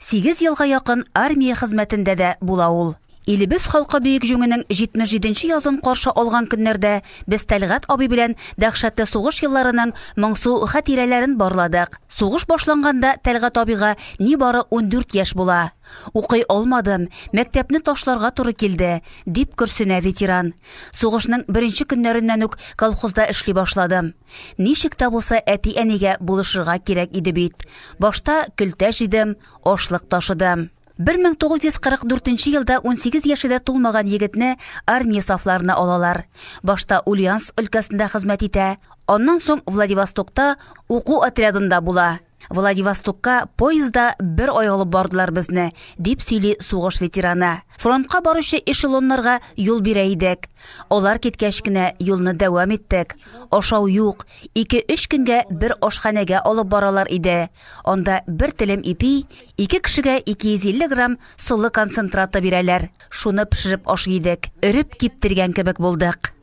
Сигез елга якын армия хезмәтендә дә була ул. Илебез халкы Бөек Җүңенең 77 нче язын каршы алган көннәрдә без Тәлгать абый белән дәһшәтле сугыш елларының моңсу хәтирәләрен барладык. Сугыш башланганда Тәлгать абыйга нибары ундүрт яшь була. Укый алмадым, мәктәпне ташларга туры килде, дип көрсенә ветеран. Сугышның беренче көннәреннән үк колхозда эшли башладым. Ничек тә булса әти-әнигә булышырга кирәк иде бит. Башта көлтә җыйдым, ашлык ташыдым. 1944 елда 18 яше дә тулмаган егетне армия сафларына алалар. Башта Ульяновск өлкәсендә хезмәт итә, аннан соң Владивостокта уку отрядында була. Владивостокка поезда бер ай алып бардылар безне, дип сөйли сугыш ветераны. Фронтка баручы эшелоннарга юл бирә идек. Алар киткәч кенә юлны дәвам иттек. Ашау юк. 2-3 көнгә бер ашханәгә алып баралар иде. Анда бер телем ипи, ике кешегә 250 грамм солы концентраты бирәләр. Шуны пешереп ашый идек. Өреп киптергән кебек булдык.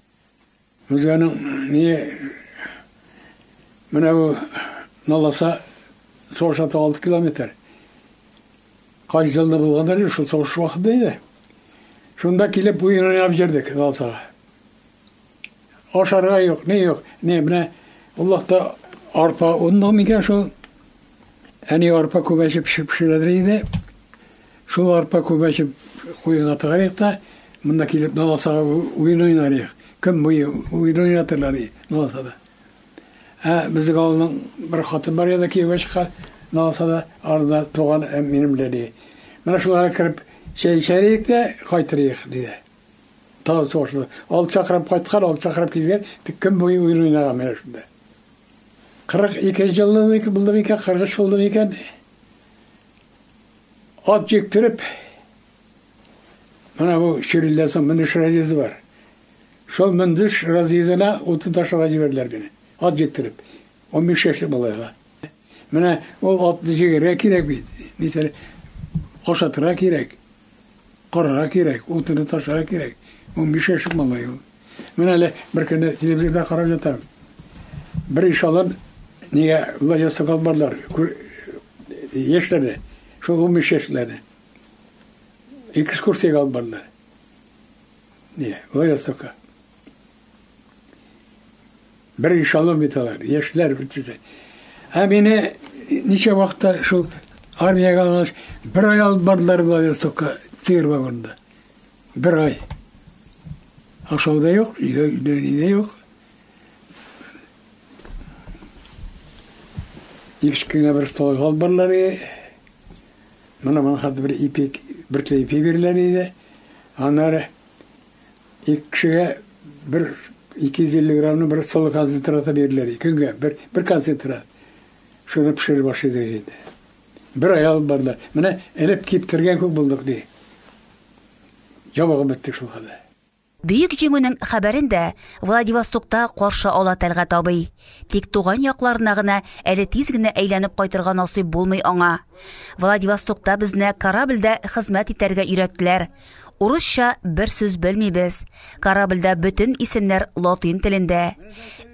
Хуҗаның ни менә бу наласа сорша та 6 километр. Кай җылны булганда шул сорш вакыты иде. Шунда килеп уен уйнап җөрдек наласага. Ашарга юк, ни юк. Ни менә Аллахта арпа онны микән шул? Әни арпа күбәчеп пешерә иде. Шул арпа күбәчеп куенга тыгарыйк та, монда килеп наласага уен уйнарыйк. Көн буе уен уйнатырлар наласада. Ә безнең авылның бер хатын бар янда кияүгә чыккан наласада арда туган ә, минем белән ди. Менә шуларга кереп чәй эчәрик тә кайтырыйк ди. Тагын сугышлы. Алты чакрым кайткан, алты чакрым килгән, тик көн буе уен уйнаган менә шунда. 42 җыллык булды микән, 43 булды микән? Ат җиктереп, менә бу чирилдән соң мөндеш разъезды бар. Шул мөндеш разъездына утын ташырга җибәрделәр мине. Ат җиктереп, 15 яшьлек малайга. Менә ул атны җигәргә кирәк бит, нитәр, ашатырга кирәк. Карарга кирәк, ул тыны ташырга кирәк. Унбиш яшьлек малай ул. Менә әле бер көнне телевизорда карап ятам. Бер ишалар нигә Владимир Сокол барлар, яшьләре, шул унбиш яшьләре. Экскурсиягә алып барлар. Нигә? Владимир Сокол. Бер эшелон бит алар, яшьләр бит. Ә мине ничә вакытта шул армиягә алгач, бер ай алып бардылар былай сока тир вагонда. Бер ай. Ашау да юк, өйдә өйдә юк. Ишкиңә бер стол алып бардылар. Мына мана хәтта бер ипек, бер ипек бирделәр иде. Аннары Ике кешегә бер 250 грамны бер солы концентраты бирделәр. Көнгә бер, бер концентрат. Шуны пешереп ашыйдык инде. Бер ай алып бардылар. Менә элеп киптергән күк булдык, ди. Ябыгып беттек шул хәлдә. Бөек җиңүнең хәбәрен дә Владивостокта каршы ала Тәлгать абый. Тик туган якларына гына әле тиз генә әйләнеп кайтырга насыйп булмый аңа. Владивостокта безне корабльдә хезмәт итәргә өйрәттеләр. Урысча бер сүз белмибез. Корабльдә бөтен исемнәр латин телендә.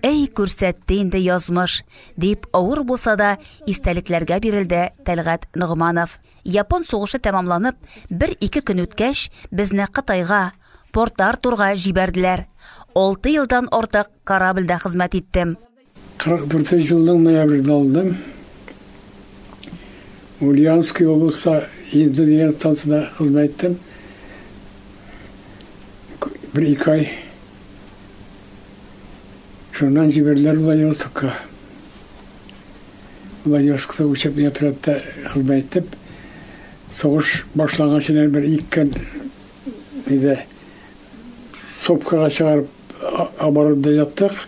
Әй, күрсәтте инде язмыш, дип авыр булса да истәлекләргә бирелде Тәлгат Ногманов. Япон сугышы тәмамланып, бер-ике көн үткәч, безне Кытайга, Порт-Артурга җибәрделәр. Алты елдан артык корабльдә хезмәт иттем. Кырык дүртенче елның ноябрендә алдым. Ульяновский облыста инженер станцияда хезмәт иттем. Бер ике ай. Шуннан җибәрделәр Владивостокка. Владивостокта учебный отрядта хезмәт иттем. Сугыш башлангач бер иккен иде. Сопкага чыгарып оборотда яттык.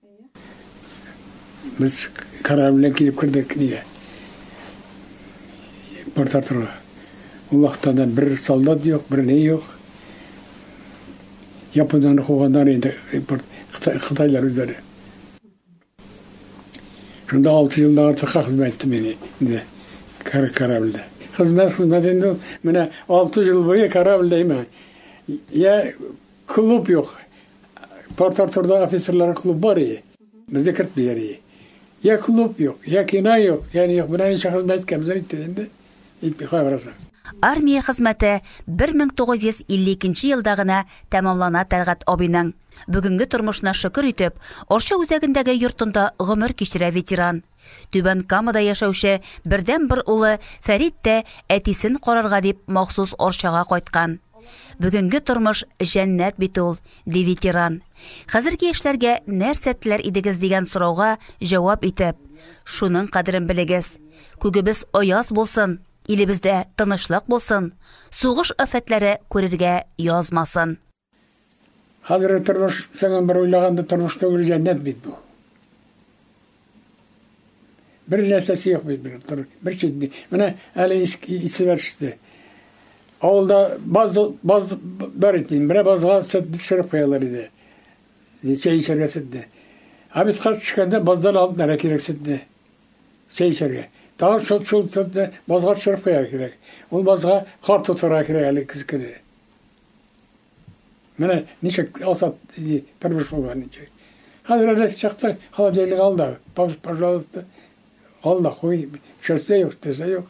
Без корабль белән килеп кердек нигә? Порт-Артурга. Ул вакытта да бер солдат юк, бер ни юк. Яподан куганнар инде порт Кытайлар үзләре. Шунда алты елдан артыкка хезмәт иттем мин инде корабльдә. Хезмәт хезмәт инде менә алты ел буе корабльдә имә. Я Клуб юк. Порт-Артурда офицерлар клуб бар иде. Безне кертмиләр иде. Я клуб юк, я кино юк, я не юк. Менә ничә хезмәт иткән безнең итте инде. Итми кайгырасың. Армия хезмәте 1952 елда гына тәмамлана Тәлгать абыйның. Бүгенге тормышына шөкер итеп, Арча үзәгендәге йортында гомер кичерә ветеран. Түбән Камада яшәүче бердәнбер улы Фәрит тә әтисен карарга дип махсус Орчага кайткан. Бүгенге тормыш җәннәт бит ул, ди ветеран. Хәзерге яшьләргә нәрсә теләр идегез дигән сорауга җавап итеп, шуның кадерен белегез. Күгебез аяз булсын, илебездә тынычлык булсын, сугыш афәтләре күрергә язмасын. Хәзерге тормыш, тагын бер уйлаганда, тормыш түгел, җәннәт бит бу. Бер нәрсәсе юк бит бер тор, бер читне. Менә әле исемә төште. Авылда баз баз бар иде. Менә базга сөт төшереп куялар иде. Чәй эчәргә сөтне. Ә без кат төшкәндә баздан алып нәрә кирәк сөтне. Чәй эчәргә. Тагын шул шул сөтне базга төшереп куярга кирәк. Ул базга кар тотарга кирәк әле кискене. Менә ничек Азат тормыш булган ничек. Хәзер әле чыкты, холодильник ал да, пожалуйста, ал да куй, чәчтә юк, тезә юк.